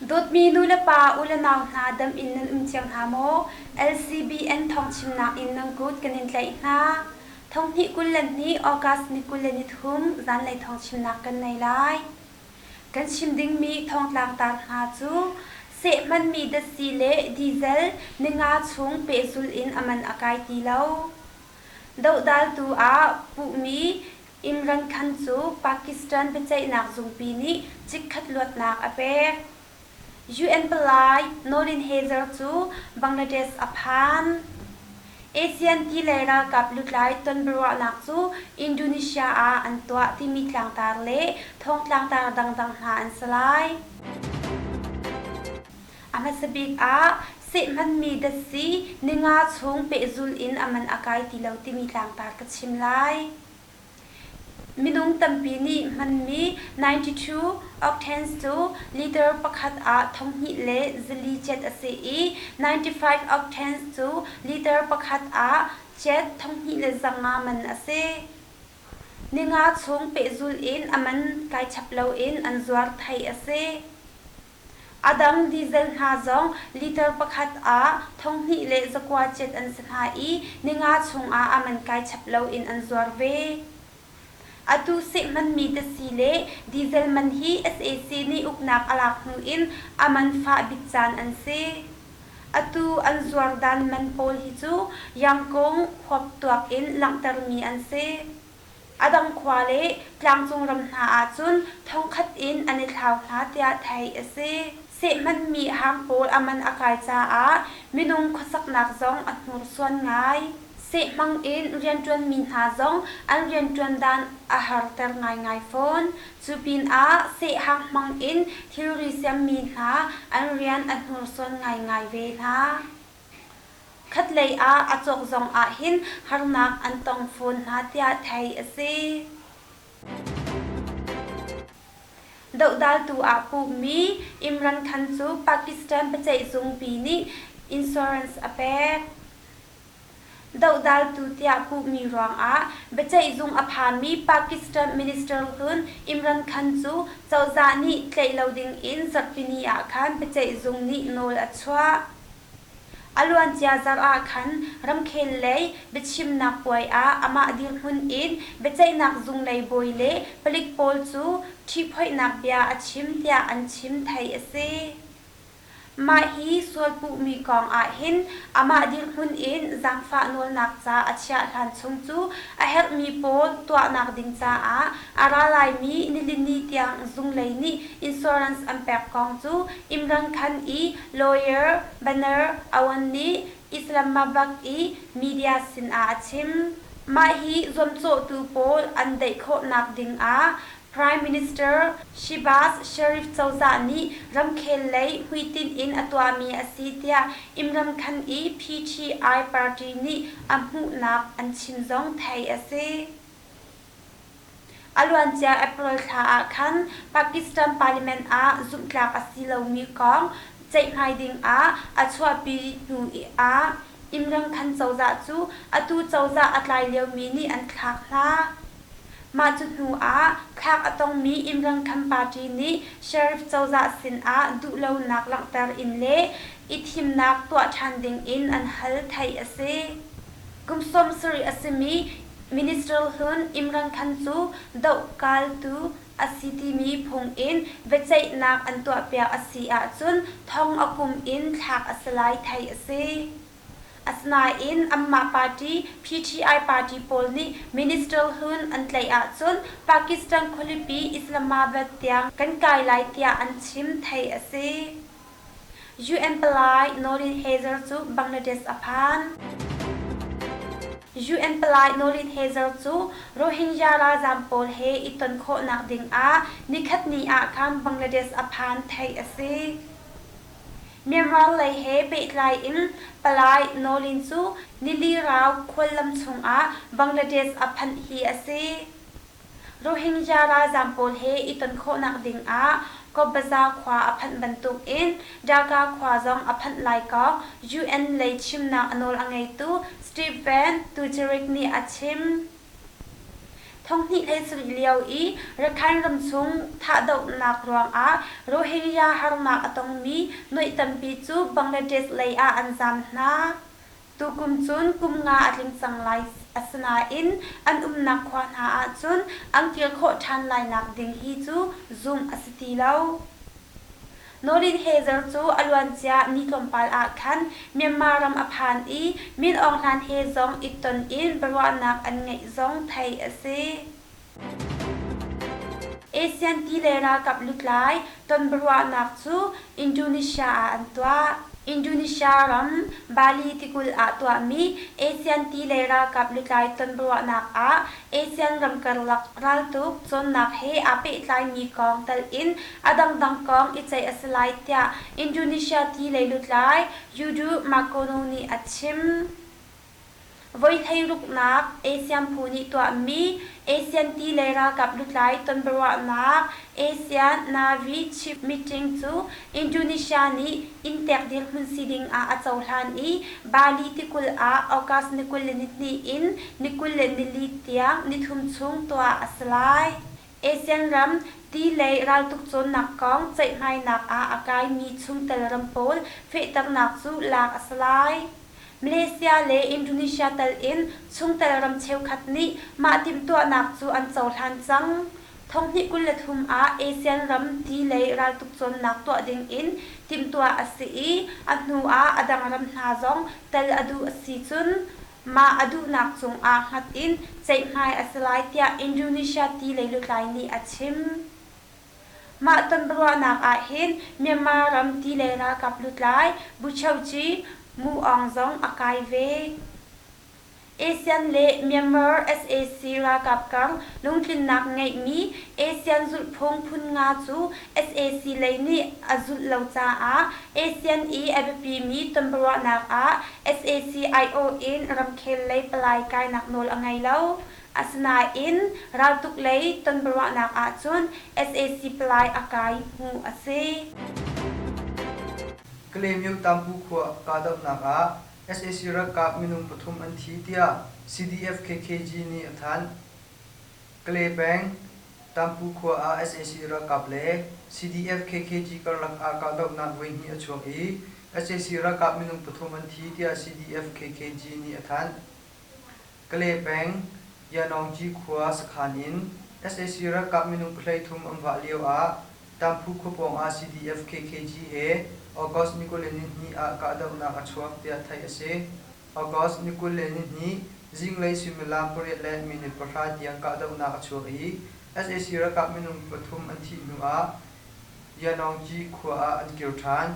Dawtmi nu le pa u le nau hna dam in nan um thiam hna maw? LCBN thawngchimnak in nan kut kan in tlaih hna. Thonghnih kul le ni August ni kul le nithum zanlei thawngchimnak kan nei lai. Kan chim dingmi thongtlang tar hna cu sehmanmi datsi le diesel ninga chung pehzul in aman a kai ti lo. Dohdaltu ah puhmi Imran Khan cu Pakistan biaceihnak zungpi nih chikkhat luatnak a pek. UN palai Norin Hazer cu Bangladesh a phan. ASEAN ti lei ralkap lutlai tonbiaruahnak cu Indonesia ah an tuah timi tlangtar le thawng tlangtar dangdang hna an si lai. A hmasa bik ah seh hmanmi datsi, ninga chung pehzul in a man a kai ti lo timi tlangtar ka chim lai. Minung tampi nih hmanmi 92 octans cu liter pakhat ah thonghnih le zali cet a si i 95 octans cu liter pakhat ah cet thonghnih le zanga man a si. Ninga chung pehzul in a man kai chap loin an zuar thai a si. A dang diesel hna zong liter pakhat ah thonghnih le zakua cet an si hna i ninga chungah a man kai chap loin an zuar ve. Atu seh hmanmi tasi le diesel man hi sac nih uknak a lak hnu in a man fah bik caan an si. Atu an zuar dan man pawl hi cu Yangkung khuap tuak in langhtermi an si. A dang khua le tlangcung ram hna ahcun thongkhat in an i thlau hna tiah theih a si. Sehmanhmi hang pawl a man a kai caah minung khuasaknak zong a hnursuan ngai. Sehmang in rianṭuanmi hna zong an rianṭuan dan a harter ngaingai fawn. Cu pinah sehhang hmang in thilri siammi hna an rian a hnursuan ngaingai ve hna. Khatlei ah a cawk zong ahhin harnak an tong fawn hna tiah theih a si. Dohdaltu aa pummi Imran Khan cu Pakistan biaceihzungpi nih insurance a pek. Dohdaltu tiah puhmi ruangah biaceihzung a phami Pakistan minister hlun Imran Khan cu cozah nih tlaih lo dingin Zarhpini ah khan biaceihzung nih nawl a chuah. A luancia zarh ah khan ramkhel lei biachimnak puai ah amah dirhmun in biaceihnak zunglei bawi le palik pawl cu ṭhiphoihnak bia a chim tiah an chim theih a si. Mah hi sual puhmi kong ah hin amah dirhmun in zaangfah nawlnak ca a chiah hlan chung cu a herhmi pawl tuahnak ding caah a ralaimi nilini tiang zunglei nih insurance an pek kong cu Imran Khan i lawyer Banar Awan nih Islamabad i media sinah a chim. Mah hi zuamcawhtu pawl an daih khawhnak ding ah Prime Minister Shehbaz Sharif cozah nih ramkhel lei hmuitinh in a tuahmi a si tiah Imramkhan i PTI party nih a hmuhnak an chim zong theih a si. A luancia April thla ah khan Pakistan parliament ah zumhtlak a si lomi kong ceihmai dingah a chuahpi hnu ah Imramkhan cozah cu atu cozah a tlai liomi nih an thlak hna. Mah cu hnuah thlak a tongmi Imrang Kham party nih sheriff cozah sinah duhlonak langhter in le i thimnak tuah ṭhan dingin an hal, theih a si. Kum sawm sarih a simi Minister hlun Imrang Khan cu dohkaltu a si timi phungin biaceihnak an tuahpiak a si ahcun thong a kum in thlak a si lai, theih a si. Asinain anmah party PTI party pawl nih minister-hlun an tlaih ahcun Pakistan khualipi Islamabad tiang kan kai lai tiah an chim theih a si. UN palai Noreen Hazer cu Bangladesh a phan. UN palai Noreen Hazer cu Rohingya ralzam pawl he i ton khawhnak dingah nikhatni ah khan Bangladesh a phan theih a si. Myanmar lei he pehtlai in palai Nawlin cu Nilirau khuallam chungah Bangladesh a phanh hi a si. Rohingya ralzaam pawl he i ton khawhnak dingah Kobbaza khua a phanh bantukin Dhaka khua zong a phanh lai kong UN lei chimnak a nawl a ngeitu Steve Van Dujarric nih a chim. Thonghnih ei culh lio i Rakhine ram chung thahdohnak ruangah Rohingya harnak a tongmi nuaih tampi cu Bangladesh lei ah an zaam hna. Tukum cun kum nga a tling cang lai, asinain an umnak khua hna ahcun an kir khawh ṭhan lainak ding hi cu zumh a si ti lo. Norin Hezer cu a luancia mi tlawmpal ah khan Myanmar ram a phan i Min Aung Hlain he zong i ton in biaruahnak an ngeih zong theih a si. ASEAN ti le ralkap lutlai ton biaruahnak cu Indonesia ah an tuah. Indonesia ram Bali tikulh ah tuahmi ASEAN ti le ralkap lutlai ton biaruahnak ah Asean ram karlak raltuk cawnnak he aa pehtlaimi kong telh in a dangdang kong i ceih a si lai tiah Indonesia ti lei lutlai Yudo Makono nih a chim. Voi thleiruknak ASEAN phu nih tuahmi ASEAN ti lei ralkap lutlai tonbiaruahnak ASEAN Navy Chief Meeting cu Indonesia nih inn tek dirhmun si ding ah a cohlan i Bali tikulh ah August ni kul le ni hnih in ni kul le nili tiang nithum chung tuah a si lai. ASEAN ram ti lei raltuk cawnnak kong ceihhmainak ah a kaimi chungtel ram pawl fehternak cu lak a si lai. Malaysia le Indonesia tal in chungtel ram cheukhat nih mah timhtuahnak cu an cohlan cang. Thonghnih kul le thum ah ASEAN ram ti lei raltuk cawnnak tuah ding in timhtuah a si i a hnu ah a dang ram hna zong tel a duh a si cun mah a duhnak cungah hngat in ceihhmai a si lai tiah Indonesia ti lei lutlai nih a chim. Mah tonruahnak ahhin Myanmar ram ti lei ralkap lutlai Bu Cheuci Mu Aung zong a kai ve. ASEAN le Myanmar sac ralkap kang lungtlinnak ngeihmi ASEAN zulhphung phun nga cu sac lei nih a zulh lo caah ASEAN i a biapimi tonbiaruahnak ah sac aiawh in ramkhel lei palai kainak nawl a ngei lo. Asinain raltuk lei tonbiaruahnak ahcun sac palai a kai hmuh a si. Kalaymyo-Tampu khua kahdohnak ah sac ralkap minung pathum an thi tiah CDF KKG nih a thanh. Kale peng Tampu khua ah sac ralkap le CDF KKG karlak ah kahdohnak voihnih a chuak i sac ralkap minung pathum an thi tiah CDF KKG nih a thanh. Kale peng Yanawci khua sakhan in sac ralkap minung pahlei thum an vah lio ah Tamphu khua pawng ah CDF KKG he August ni kul le nihnih ah kahdohnak a chuak tiah theih a si. August ni kul le nihnih zinglei suimilam pariat le minute pahra tiang kahdohnak a chuak i sac ralkap minung pathum an thih hnu ah Yanawci khua ah an kir ṭhan.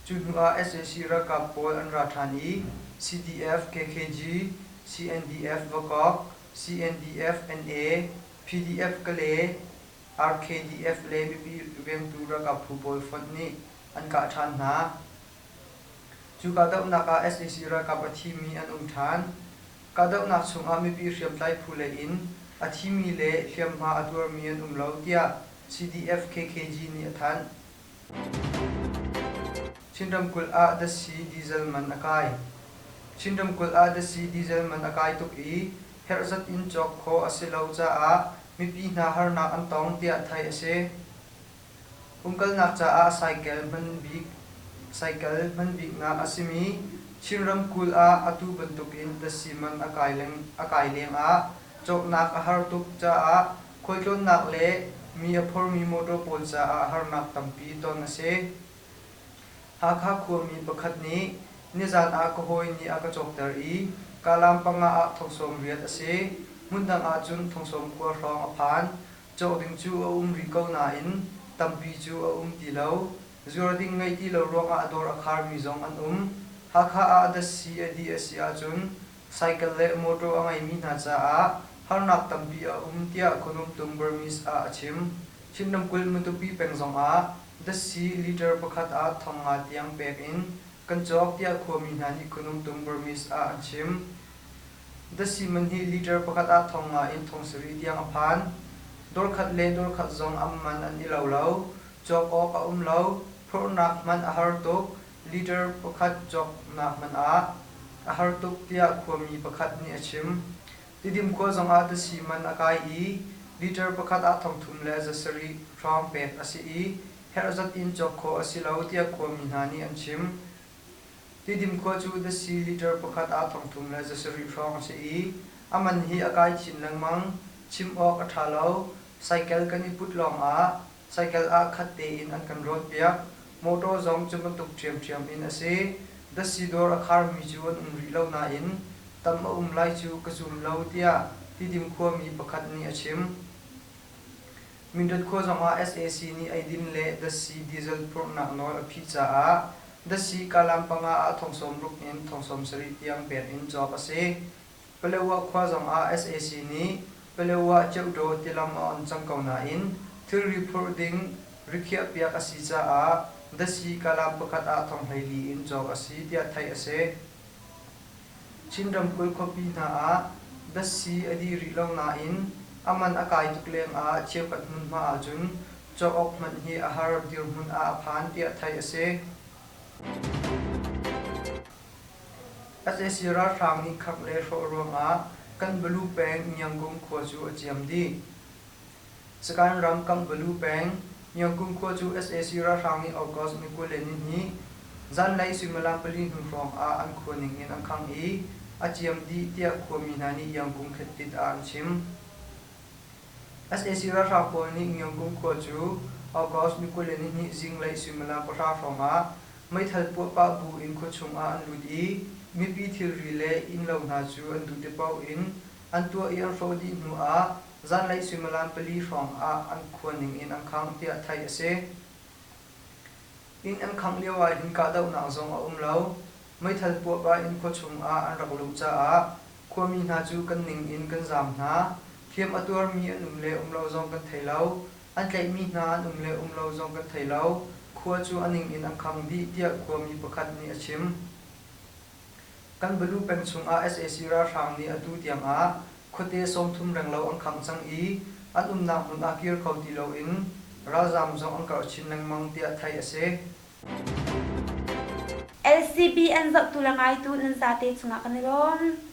Cu hnuah sac ralkap pawl an ra ṭhan i CDF-KKG, CNDF-Vakok, CNDF-NA, PDF-Kale, RKDF le mipi vengtu ralkap phu pawl fonh nih an kah ṭhan hna. Cu kahdohnak ah sac ralkap a thimi an um ṭhan. Kahdohnak chungah mipi hriamtlai phu lei in a thimi le hliamhma a tuarmi an um lo tiah CDF-KKG nih a thanh. Chin ramkulh ah dasi diesel man a kai. Chin ramkulh ah dasi diesel man a kai tuk i herh zat in cawk khawh a si lo caah mipi hna harnak an tong tiah theih a si. Umkalnak caah cycle hman bik cycle hman biknak a simi Chin ramkulh ah atu bantukin dasi man a kai leng a kai lengah cawknak a har tuk caah Khualtlawnnak le mi a phormi motor pawl caah harnak tampi ton a si. Hakha khuami pakhat nih nizan ah ka hawi nih a ka cawkter i Kalam panga ah thongsawm riat a si. Hmundang ahcun thongsawm khua hrawng a phan. Cawh ding cu a um rih ko nain tampi cu a um ti lo. Zuar ding ngei ti lo ruangah a dawr a kharmi zong an um. Hakha ah a das si a dih a si ahcun Cycle le mawṭaw a ngeimi hna caah harnak tampi a um tiah Khonumtung Burmese ah a chim. Chin ramkulh Matupi peng zongah Dassi litre pakhat ah thong nga tiang pek in kan cawk tiah khuami hna nih Khonumtung Burmese ah an chim. Dassi man hi litre pakhat ah thong nga in thong sarih tiang a phan. Dawrkhat le dawrkhat zong am man an i lo lo. Cawk awk a um lo. Phorhnak hman a har tuk. Leader pakhat cawknak man ah a har tuk tiah khuami pakhat nih a chim. Tidim khua zongah tasi man a kai i leader pakhat ah thongthum le za sarih hrawng pek a si i herh zat in cawk khawh a si lo tiah khuami hna nih an chim. Tidim khua cu tasi leader pakhat ah thongthum le za sarih hrawng a si i a man hi a kai chin lengmang. Chim awk a ṭha lo. Cycle kan i put lawngah Cycle ah khat tein an kan rawnpiak. Motor zong cu bantuk ṭhiamṭhiam in a si. Dasi dawr a kharmi cu an um rih lo nain tam a um lai cu ka zum lo, tiah Tidim khuami pakhat nih a chim. Mindat khua zongah sac nih eidin le Dasi diesel phurhnak nawl a phih caah Dasi Kalam panga ah thong sawm ruk in thong sawm sarih tiang pek in cawk a si. Paletwah khua zongah sac nih Paletwah Kyaukdaw tilam a on cang ko nain thilri phurh ding rikhiahpiak a si caah Dasi-Kalam pakhat ah thonghlei-li in cawk a si tiah theih a si. Chin ramkulh khuapi hna ah Dasi a dih rih lo nain a man a kai tuk lengah cheukhat hmunhma ahcun cawk awk hmanh hi a har dirhmun ah a phan tiah theih a si. sac ralhrang nih khangh le hrawh ruangah Kanbalu peng Ngiangkum khua cu a ciam dih. Sakain ram Kanbalu peng Ngiangkum khua cu sac ralhrang nih August ni kul le nihnih zanlei suimilam pali hnu hrawngah an khua ning in an khangh i a ciam dih tiah khuami hna nih Iangkum Khetit ah an chim. sac ralhrang pawl nih Ngiawngkung khua cu August ni kul le nihnih zinglei suimilam pahra hrawngah meithal puah pah bu in khua chungah an lut i mipi thilri le innlo hna cu an duh tipaoh in an tuah i an hrawh dih hnuah zanlei suimilam pali hrawngah an khua ning in an khangh tiah theih a si. Inn an khangh lio ah hin kahdohnak zong a um lo. Meithal puahpah in khua chungah an rak luh caah khuami hna cu kan ning in kan zaam hna. Hliam a tuarmi an um le um lo zong kan thei lo. An tlaihmi hna an um le um lo zong kan thei lo. Khua cu a ning in an khang dih, tiah khuami pakhat nih a chim. Kanbalu peng chungah sac ralhrang nih atu tiangah khuate sawmthum renglo an khangh cang i an umnak hmun ah kir kho ti loin ralzaam zong an karh chin lengmang tiah theih a si. LCB an zohtu le ngaitu nan zate cungah kan i lawm.